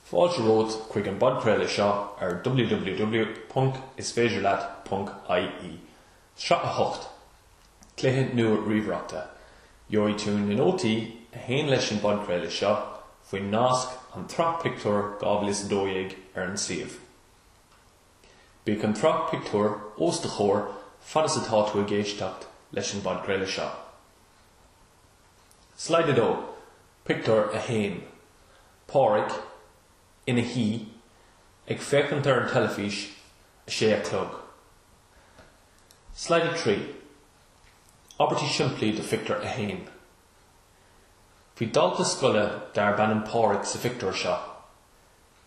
Fáilte romhat chuig an bpodchraoladh seo ar www.isféidirleat.ie. Sraith 8, Cluiche nua ríomhaireachta. Gheobhaidh tú na nótaí a théann leis an bpodchraoladh seo faoin nasc An tSraith Pictiúr 2012 ar an suíomh. Bíodh an tSraith Pictiúr os do chomhair fad is atá tú ag éisteacht leis an bpodchraoladh seo. Slide 2, Pictiúr 1, Pádraig, ina shuí, ag féachaint ar an teilifís, 6 a chlog. Slide 3, Abairtí simplí do Phictiúr 1 Bhí dalta scoile darb ainm Pádraig sa phictiúr seo.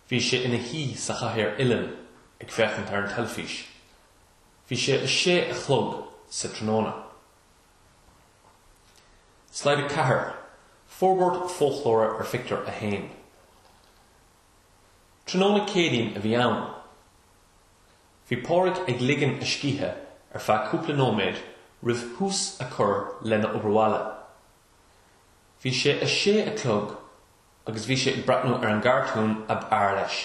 Bhí sé ina shuí sa chathaoir uilleann ag féachaint ar an teilifís. Bhí sé 6 a chlog sa tráthnóna. Slide 4, Forbairt foclóra ar Phictiúr 1. Tráthnóna Céadaoin a bhí ann. Bhí Pádraig ag ligean a scíthe ar feadh cúpla nóiméad roimh thús a chur lena obair bhaile. Bhí sé a sé a chlog agus bhí sé ag breathnú ar an gcartún ab fhearr leis.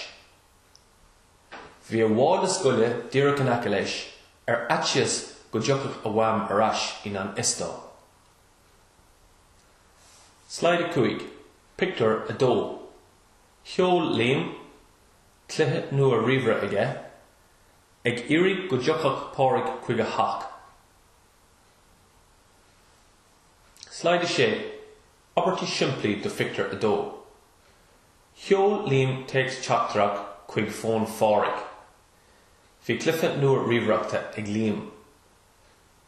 Bhí a mhála scoile díreach in aice leis, ar fhaitíos go dtiocfadh a mham ar ais i ngan fhios dó. Slide 5, Pictiúr 2 Sheol Liam cluiche nua ríomhaire aige, ag iarraidh go dtiocfadh Pádraig chuig a theach. Slide 6, Abairtí simplí do Phictiúr 2. Sheol Liam téacs teachtaireacht chuig fón Phádraig. Bhí cluiche nua ríomhaireachta ag Liam.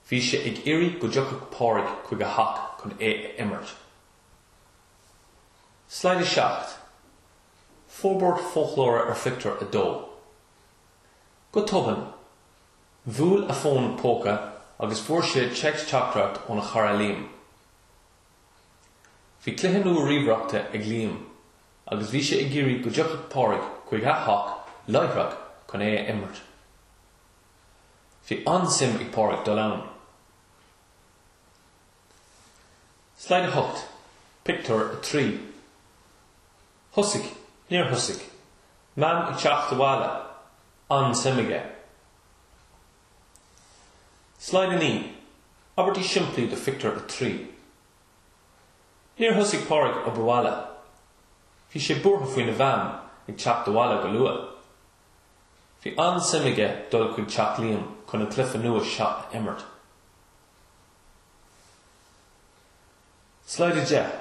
Bhí sé ag iarraidh go dtiocfadh Pádraig chuig a theach chun é a imirt. Slide 7, Forbairt foclóra ar phictiúr 2. Go tobann, bhuail a fón póca agus fuair sé téacs teachtaireacht óna chara Liam. Bhí cluiche nua ríomhaireachta ag Liam agus bhí sé ag iarraidh go dtiocfadh Pádraig chuig a theach láithreach chun é a imirt. Bhí an-suim ag Pádraig dul ann. Slide 8, Pictiúr 3 Thosaigh, níor thosaigh, Mam ag teacht abhaile, an-suim aige. Slide 9, Abairtí simplí do Phictiúr 3. Níor thosaigh Pádraig obair bhaile. Bhí sé buartha faoina Mham ag teacht abhaile go luath. Bhí an-suim aige dul chuig teach Liam chun an cluiche nua seo a imirt. Slide 10,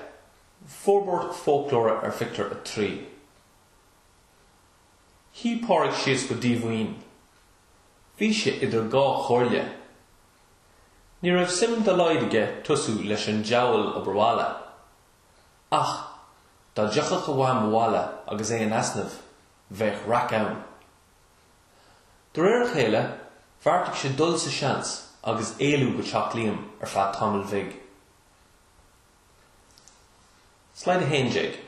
Forbairt fóclóra ar Phictiúr 3. Shuigh Pádraig síos go díomhaoin. Bhí sé idir dhá chomhairle. Ní raibh suim dá laghad aige tosú leis an diabhal obair bhaile. Ach dá dtiocfadh a Mham abhaile agus é in easnamh, bheadh raic ann. De réir a chéile, bheartaigh sé dul sa seans agus éalú go teach Liam ar feadh tamaill bhig. Slide 11,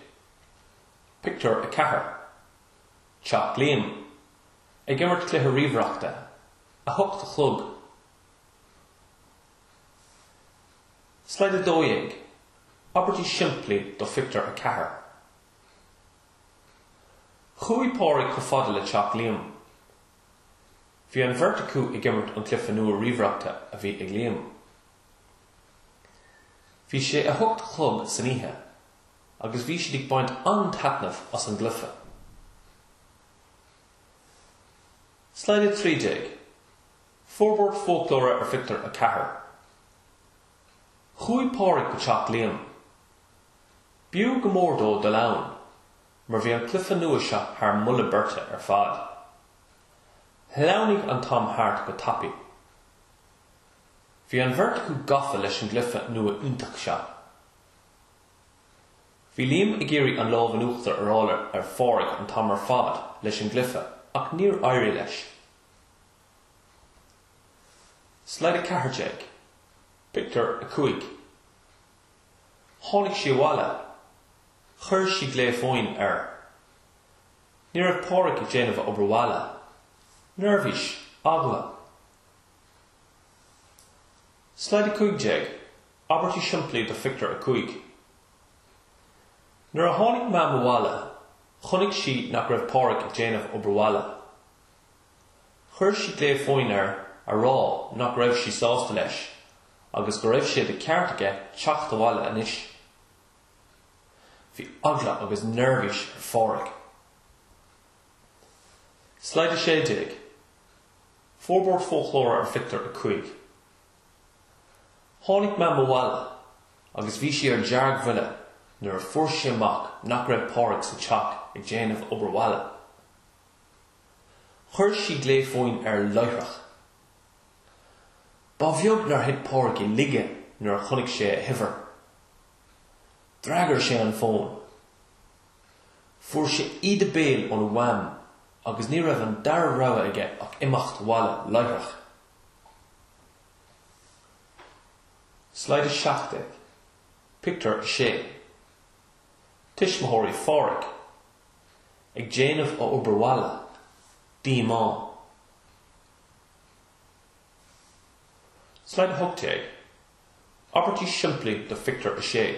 Pictiúr 4, Teach Liam, ag imirt cluiche ríomhaireachta, 8 a chlog. Slide 12, Abairtí simplí do Phictiúr 4. Chuaigh Pádraig chomh fada le teach Liam. Bhí an bheirt acu ag imirt an cluiche nua ríomhaireachta a bhí ag Liam. Bhí sé a hocht a chlog san oíche agus bhí siad ag baint an-taitneamh as an gcluiche. Slide 13, Forbairt Fóclóra ar Phictiúr 4 Chuaigh Pádraig go teach Liam. B'fhiú go mór dó dul ann mar bhí an cluiche nua seo thar mholadh beirte ar fad. Shleamhnaigh an t-am thart go tapaidh. Bhí an bheirt acu gafa leis an gcluife nua iontach seo. Bhí Liam ag iarraidh an lámh in uachtar a fháil ar Phádraig an t-am ar fad leis an gcluife ach níor éirigh leis. Slide 14, Pictiúr 5 Tháinig sí abhaile. Chuir sí glao fóin air. Ní raibh Pádraig ag déanamh obair bhaile. Neirbhís. Eagla. Slide 15, Abairtí simplí do Phictiúr 5 Nuair a tháinig Mam abhaile, chonaic sí nach raibh Páraic ag déanamh obair bhaile. Chuir sí glao fóin air a rá nach raibh sí sásta leis agus go raibh sé de cheart aige teacht abhaile anois. Bhí eagla agus neirbhís ar Pháraic. Slide 16, Forbairt Fóclóra ar Phictiúr 5 Tháinig Mam abhaile agus bhí sí ar deargbhuile nuair a fuair sí amach nach raibh Pádraig sa teach ag déanamh obair bhaile. Chuir sí glao fóin air láithreach. Ba bheag nár thit Pádraig i laige nuair a chonaic sé a huimhir. D'fhreagair sé an fón. Fuair sé íde béil óna mham agus ní raibh an dara rogha aige ach imeacht abhaile láithreach. Sleamhnán 17, Pictiúr 6 Tuismitheoirí Phádraig ag déanamh a obair bhaile, díomá. Sleamhnán 18, Abairtí simplí do Phictiúr 6.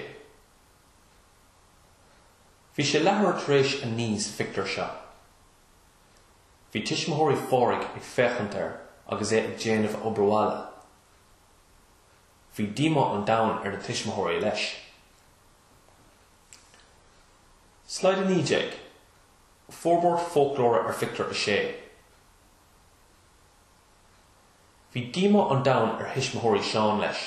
Bhí sé leathuair tar éis a naoi sa phictiúr seo. Bhí tuismitheoirí Phádraig ag féachaint air agus é ag déanamh a obair bhaile. Bhí díomá an domhain ar na tuismitheoirí leis. Slide 19, Forbairt fóclóra ar phictiúr a sé. Bhí díomá an domhain ar thuismitheoirí Seán leis.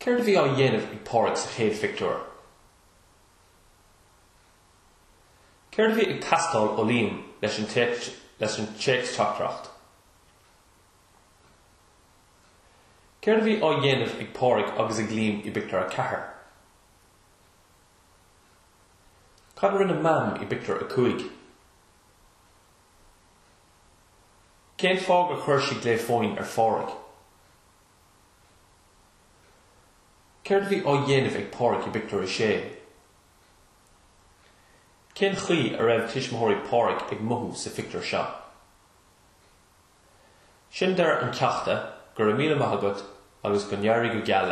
Céard a bhí á dhéanamh ag Pádraig sa chéad phictiúr? Céard a bhí ag teastáil ó Liam leis an téacsteachtaireacht? Céard a bhí á dhéanamh ag Pádraig agus ag Liam i bpictiúr a ceathair? Cad a rinne Mam i bpictiúr a cúig? Cén fáth gur chuir sí glao fóin ar Phádraig? Céard a bhí á dhéanamh ag Pádraig i bpictiúr a sé? Cén chaoi a raibh tuismitheoirí Pádraig ag mothú sa phictiúr seo? Sin deireadh an cheachta, go raibh míle maith agat agus go n-éirí go geal leat.